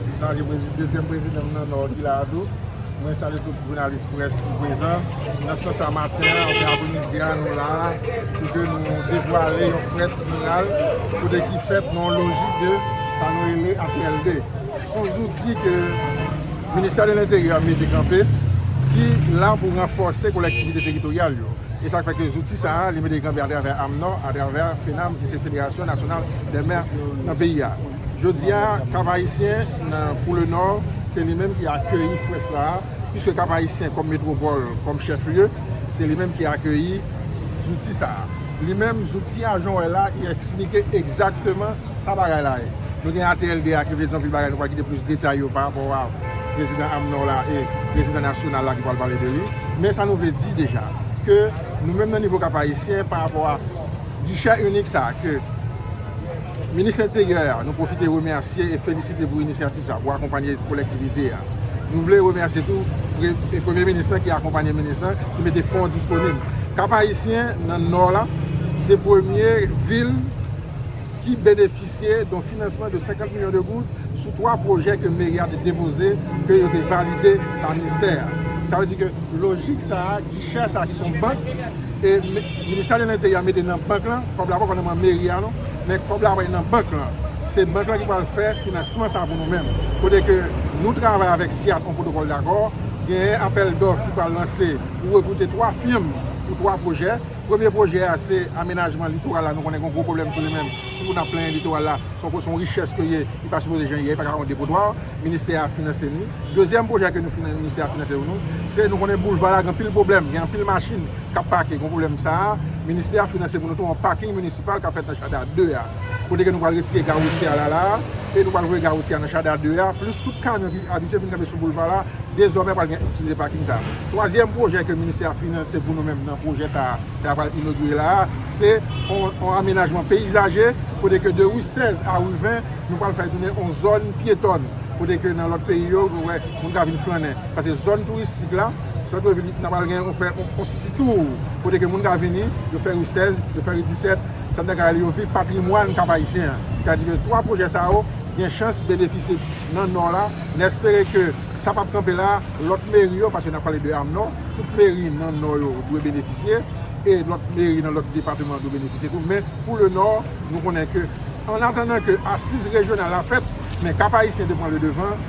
M salye prezidan, dezyèm prezidan m nan Nò ki la a tou. Mwen salye tout jounalis près ki prezan nan sant sa maten an oubyen apremidi a nou la a pou ke nou devwale yon près miral kote ki fèt nan yon lojik de sa nou rele HLD. S on zouti ke Ministè de Lenteryè a mete kanpe ki la pou ranfòse kolektivite teritoryal yo. E sa k fè ke zouti sa a li mete kanpe atravè AMNOH, atravè FENAMH ki se Federasyon Nasyonal dè Mè nan peyi a. Jodi a, Kap Ayisyen nan Pou Le Nò, se li menm ki akeyi fwè sa a, piske Kap Ayisyen kòm metwopòl, kòm chèf lye, se li menm ki akeyi zouti sa a. Li menm, zouti a, jan w wè l la, li esplike egzakteman sa bagay la ye. Nou gen ATLD a ki vle di anpil bagay, nou pral kite plis detay yo parapò a Prezidan AMNOR la e Prezidan Nasyonal la ki pral pale de li. Men sa nou vle di deja, ke nou menm nan nivo Kap Ayisyen, parapò a gichè inik sa a ke Minis Enteryè a, nou pwofite remèsye e felisite pou inisyativ sa pou akonpanye kolektivite a. Nou vle remèsye tou Premye Minis lan ki akonpanye Minis lan ki mete fon disponib. Kap-Ayisyen nan Nò la se premye vil ki benefisye don finansman de 50 milyon de goud sou 3 pwojè ke Meri a te depoze ke yo te valide pa Minstè a. Sa vle di ke lojik sa a, gichè sa a ki son bank e. Ministè de Lenteryè mete nan bank lan, kòb la poko nan man meri a non, men kòb la pral nan bank lan. Se bank lan ki pral fè finansman sa pou nou menm. Kote ke nou travay avèk SIAT on pwotokòl dakò, genyen apèl dòf ki pral lanse pou rekwoute 3 fim pou 3 pwojè. Premye pwojè a se amenajman litoral la, nou konnen gon gwo pwoblèm sou li menm, ki pou n ap plenyen litoral la, se on richès ke ye, li pa sipoze jan li ye, li pa ka on depotwa. Ministè a finanse ni. Dezyèm pwojè ke nou, Ministè a finanse pou nou, se nou konnen boulva la gen anpil pwoblèm, gen anpil machin. k ap pake. Kon pwoblèm sa a, ministè a finanse pou nou tou yon paking minisipal k ap fèt nan Chada 2 a. Kote ke nou pral retire gare woutyè a la la a, e nou pral voye gare woutyè a nan Chada 2 a, plis tout kamyon ki abitye vin kanpe sou boulva la, dezòmè pral gen itilize paking sa a. Twazyèm pwojè ke ministè a finanse pou nou menm nan pwojè sa a, sa a pral inogire la a, se yon amenajman peyizaje, kote ke de ri 16 a ri 20, nou pral fè tounen yon zòn pyetòn. Kote ke nan lòt peyi yo, nou wè moun ka vin flannen. Sa se zòn touristik la. Sèt lè vini, n apral gen yon fè yon siti tour kote ke moun ka vini, yo fè ri 16, yo fè ri 17, sa vle ka yo viv patrimwàn Kap Ayisyen an. Sa di ke 3 pwojè sa yo gen chans benefisye nan Nò la, n espere ke sa pap kanpe la, lòt meri yo, paske n ap pale de Amnò, tout meri nan Nò yo dwe benefisye, e lòt meri nan lòt depatman dwe benefisye tou, men pou le Nò, nou konnen ke annatandan ke asiz rejyonal la fèt, men Kap Ayisyen dwe pran le devan.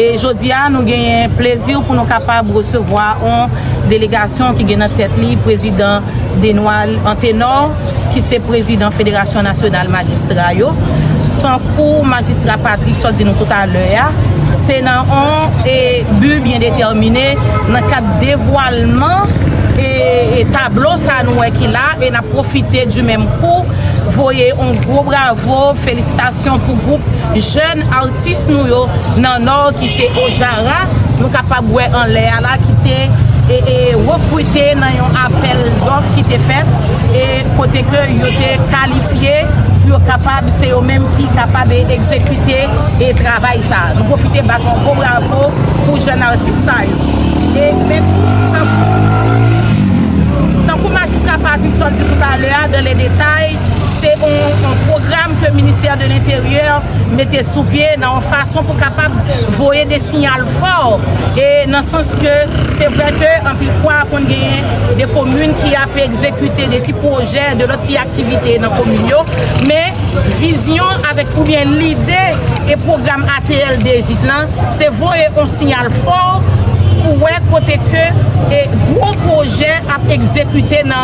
E jodi a nou genyen plezi pou nou kapab resevwa yon delegasyon ki gen nan tèt li prezidan Denwald Antenor ki se prezidan federasyon nasyonal majistra yo. Tankou majistra Patrick sot di nou tout alè a, se nan yon bi byen detèmine nan kad devwalman e tablo sa nou wè ki la e n ap pwofite di menm kou voye yon gwo bravo felisitasyon pou gwoup Jèn atis nou yo nan Nò ki se Ojara, nou kapab wè anlè a la ki te rekrite nan yon apèl dòf ki te fèt e kote ke yo te kalifye pou yo kapab se yo menm ki kapab egzekite travay sa. Nou pwofite bat yon gwo bravo pou jèn atis sa yo. E men tankou Majistra Patterson di toutalè a dan le detay, Se yon pwogram ke ministè de l'interyè mete sou pye nan yon fason pou kapab voye de siyal fò e nan sans ke se vre ke anpil fwa konn genyen de komin ki ap egzekite de ti pwojè, de lòt ti aktivite nan komin yo men vizyon avèk oubyen lide e pwogram ATL DEJIK lan se voye yon siyal fò pou wè kote ke gwo pwojè ap egzekite nan.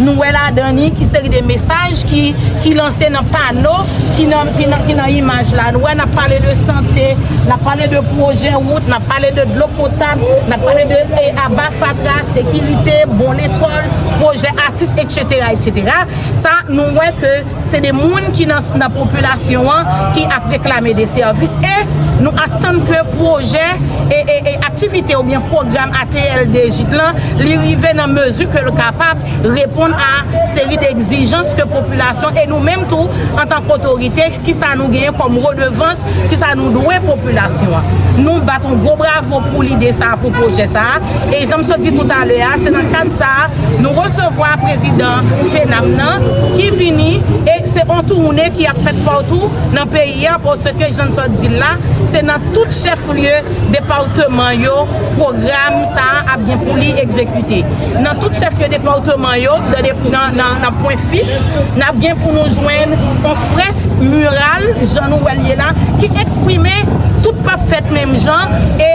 Nou wè ladan li ki seri de mesaj ki lanse nan pano ki nan imaj la. Nou wè n ap pale de sante, n ap pale de pwojè wout, n ap pale de dlo potab, n ap pale de aba fatra, sekirite, bon lekòl, pwojè atis, etc. Sa nou wè ke Se de moun ki nan popilasyon an ki ap reklame de sèvis e nou atann ke pwojè, aktivite oubyen pwogram ATL DEJIK lan li rive nan mezi ke l kapab reponn a seri de egzijans ke popilasyon e nou menm tou antan k otorite ki sa nou genyen kòm redevans ki sa nou dwe popilasyon an. Nou bat yon gwo bravo pou lide sa a pou pwojè sa a. E janm sot di tout alè a, se nan kad sa a nou resevwa prezidan FENAP nan ki vini e se on touwoune ki ap fèt patou nan peyi a paske jann sot di l la se nan tout chèf lye depawteman yo pwogram sa a ap gen pou li egzekite. Nan tout chèf lye depawteman yo nan pwen fiks n ap gen pou nou jwenn on frèsk miral jan nou wè l ye la ki eksprime tout p ap fèt menm jan e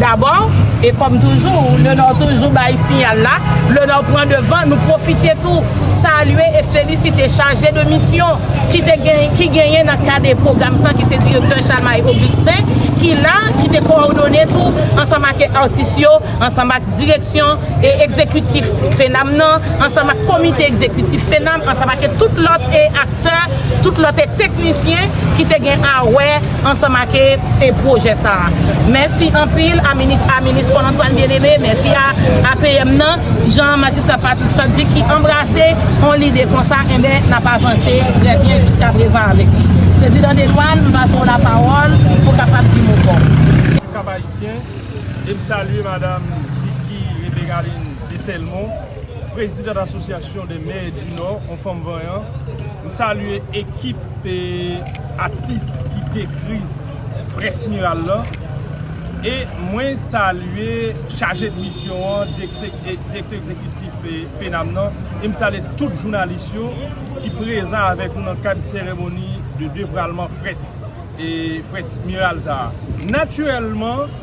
Dabò, e kòm toujou, Le Nord toujou bay siyal la, Le Nord pran devan, nou pwofite tou salye e felisite chaje de misyon ki te gen, ki genyen nan kad e pwogram sa ki se Direktè Chalmay Augustin ki la, ki te kowòdone tou ansanm ak atis yo, ansanm ak direksyon e egzekitif FENAM nan, ansanm ak komite egzekitif FENAM, ansanm ake tout lòt e aktè, tout lòt e teknisyen ki te gen a wè. ansanm ake e pwojè sa a mèsi anpil a minis a minis Paul Antoine bien aimé mèsi a APM nan jan majistra Patrick Chat di ki anbrase on lide konsa enben n ap avanse trè byen jiska prezan avèk li prezidan Dedoine m pase w la pawòl pou kapab di mo paw. Bonjou Kap Ayisyen e m salye madam Ziki Rebegaline Deselmon prezidant asosyasyon dè mè di nò on fanm vanyan m salye ekip atis ki dekri Prince Miral lan e mwen salye chaje de misyon an, direktè egzekitif FENAM nan e m salye tout jounalis yo ki prezan avèk nou nan kad seremoni de devralman Prince Miral sa a. Natirèlman.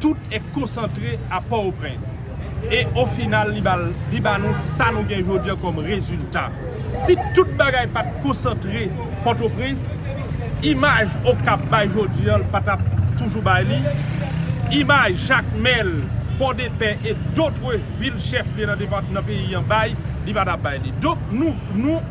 Tout e konsantre a Port-au-Prince. E o final li ba li ba nou sa nou gen jodi an kom rezilta. Si tout bagay pat konsantre Port-au-Prince, imaj Okap bay jodi an l pa tap toujou bay li. Imaj Jakmel, Port-de-Paix e dotre vil chef lye nan depart nan peyi an bay, li pa tap bay li. Donk nou nou.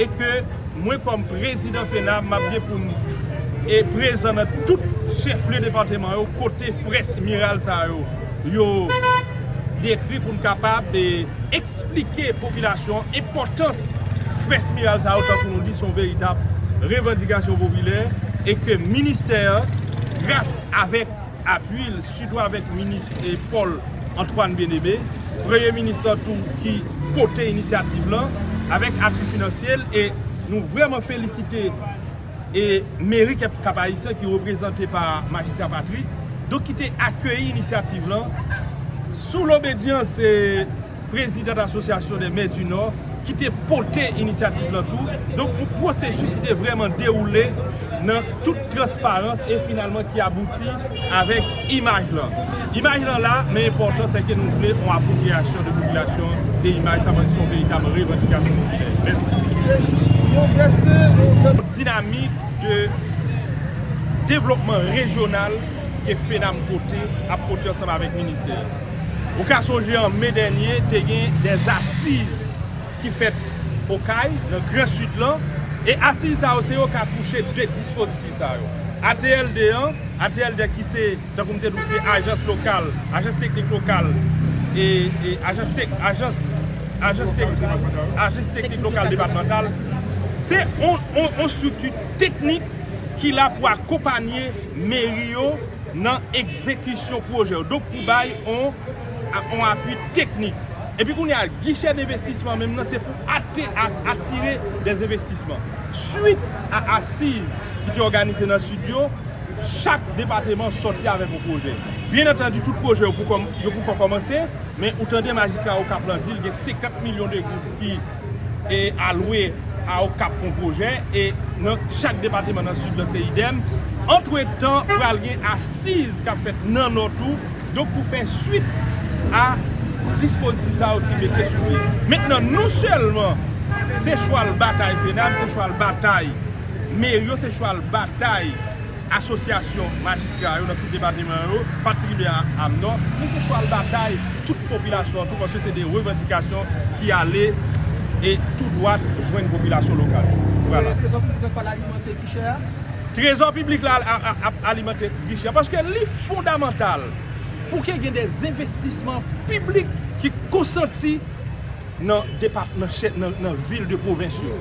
e ke mwen kòm prezidan FENAB m ap gen pou m prezan nan tout chèflye depatman yo kote près miral sa yo yo dekri pou m kapab esplike popilasyon an enpòtans près miral sa yo tankou nou di son veritab revandikasyon popilè e ke ministè an gras avèk apui l. Sitou avèk minis Paul Antoine Bien-Aimé, premye minis lan tou ki pote inisyativ lan avèk apui finansye l e nou vrèman felisite e meri Kep-Kap Ayisyen ki reprezante pa Majistra Patrick, donk ki te akeyi inisyativ lan sou lobedyans e. prezidant Association des maires du Nord, ki te pote inisyativ lan tou, donk yon pwosesis ki te vrèman dewoule nan tout transparans e finalman ki abouti avèk imaj lan. Imaj lan la, men enpòtan se ke nou vle yon apwopriyasyon de popilasyon de imaj sa, paske se yon veritab revandikasyon popilè. Mèsi. Se jis pwogrese, yon. Dinamik de devlopman rejyonal ke FENAMH pote, ap pote ansanm avèk ministè. Ou ka sonje an me dènye te gen de asiz ki fèt Okay, nan gran Sid lan, e asiz sa yo se yo k akouche 2 dispozitif sa yo. ATL 2 an, ATL 2 ki se, tankou m te di w se ajans lokal, ajans teknik lokal e ajans tek, ajans, ajans tek, ajans teknik lokal depatmantal, se yon estrikti teknik ki la pou akonpanye meri yo nan egzekisyon pwojè yo. pou bay yon apui teknik. Epi kounye a, gichè denvestisman menm nan se pou atire dezenvestisman. Suit a asiz ki te òganize nan Sid yo, chak depateman sòti avèk yon pwojè. Byen antandi tout pwojè yo poukò kòmanse, men ou tande majistra Okap lan di l gen 50 milyon de goud ki. e alwe a Okap pou pwojè e nan chak depateman nan Sid lan se idèm. Antretan pral gen asiz k ap fèt nan Nò tou, donk pou fè swit a dispozitif sa yo ki mete sou pye. Mentnan nou sèlman se chwal batay FENAB, se chwal batay meri yo, se chwal batay. Asosyasyon majistra yo nan tout depateman yo, patikilye a am nò, nou se chwal batay tout popilasyon an tou paske se de revandikasyon ki ale e tou dwat jwenn popilasyon lokal yo. Se trezò piblik la k pral alimante gichè a? Trezò piblik la ap alimante gichè a paske li fondamantal pou ke gen de envestisman piblik ki konsanti nan vil de pwovens yo.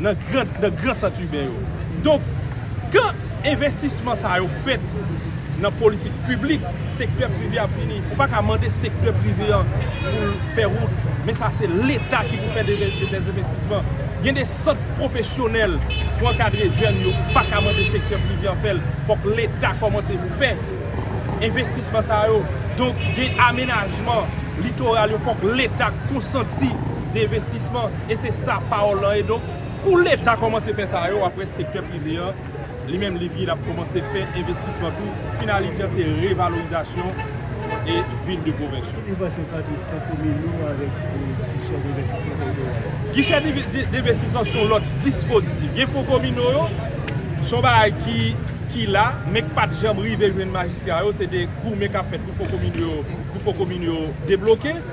nan gran sant iben yo. Donk, kan envestisman sa yo fèt nan politik piblik, sektè prive ap vini. Ou pa ka mande sektè prive an pou l fè wout, men sa se Leta ki pou fè dezenvestisman. Gen de sant pwofesyonèl pou ankadre jèn yo, ou pa ka mande sektè prive an fè l, fòk Leta kòmanse fè envestisman sa yo. Donk, gen amenajman litoral yo, fòk Leta konsanti dezenvestisman. E se sa pawòl lan ye donk kou leta kòmanse fè sa yo wap wè sektè prive an li menm li vin ap kòmanse fè envestisman tou finalite an se revalorizasyon e vil de pwovens yo. Ki diferans nou fè ant komin nou avèk gichè denvestisman teritoryal yo? Gichè denvestisman son lòt dispozitif gen fon komino yo son bagay ki la men k pat janm rive jwenn majistra yo se de goumen kap fèt pou fon komino yo pou fon komino yo debloke.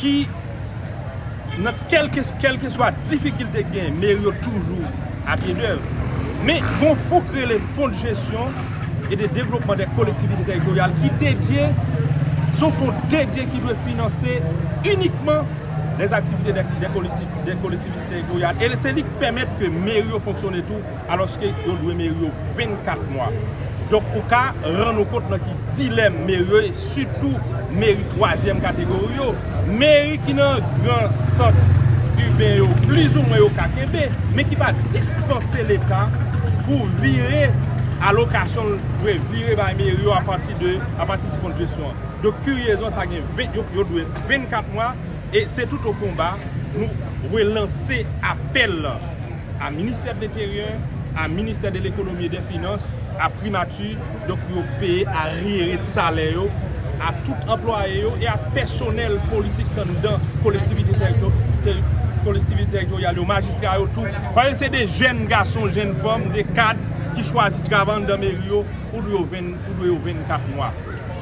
ki nan kèlkeswa difikilte ki genyen, meri yo toujou a pye dèv. Men, gon fon ki rele Fonds de gestion et de développement des collectivités territoriales ki dedye, son fon dedye ki dwe finanse inikman les activités des collectivités territoriales. E se li ki pèmèt ke meri yo fonksyone tou. Alòske yo dwe meri yo 24 mwa. Donk ou ka rann ou kont nan ki dilèm meri yo ye, sitou meri twazyèm kategori yo. Meri ki nan gran sant iben yo plizoumwen yo ka kenbe, men ki pa dispanse Leta pou vire alokasyon l dwe vire bay meri yo apati de apati de kondjesyon an. Donk kiryezman sa gen 20 yo yo dwe 24 mwa e se touto konba nou relanse apèl lan. a ministè de l'interyè, a ministè de l'ekonomi e dè finans, a primati, donk pou yo peye aryere de salè yo a tout anplwaye yo e a pèsonèl politik anndan kolektivite tèritoryal yo, majistra yo tou, paske se de jèn gason, jèn fanm, de kad ki chwazi travay anndan meri yo pou dwe yo 24 mwa.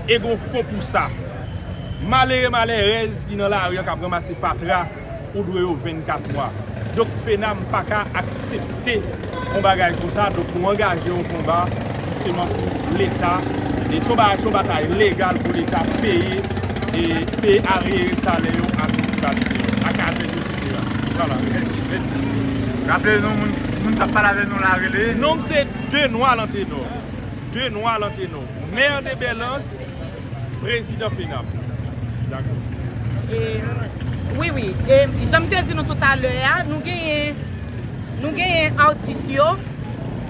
E gon fon pou sa. Malere malèrèz ki nan lari an k ap ranmase fatra. ou dwe yo 24 mwa. Donk FENAMH pa ka aksepte yon bagay konsa, donk nou angaje yon konba jisteman pou leta, se yon batay legal pou leta peye aryere salè yo a minisipalite yo, a kazèk yo etc. Vwala, mèsi, mèsi. Raple nou moun kap pale avè nou la rele. Nom m se Denoil Antenor. Denoil Antenor. Maire de Belans. Prezidan Pena pou nou. Dakò. E, wi, wi. E, jan m te di nou toutalè a, nou genyen, nou genyen atis yo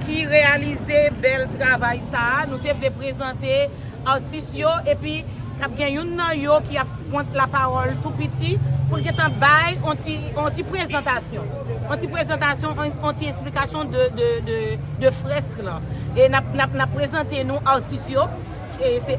ki reyalize bèl travay sa a. Nou te vle prezante atis yo epi k ap gen youn nan yo ki ap pran lapawòl tou piti pou l gen tan bay yon ti, yon ti prezantasyon. Yon ti prezantasyon, yon ti esplikasyon de, de, de, de frèsk lan. E n ap, n ap, n ap prezante nou atis yo. E se.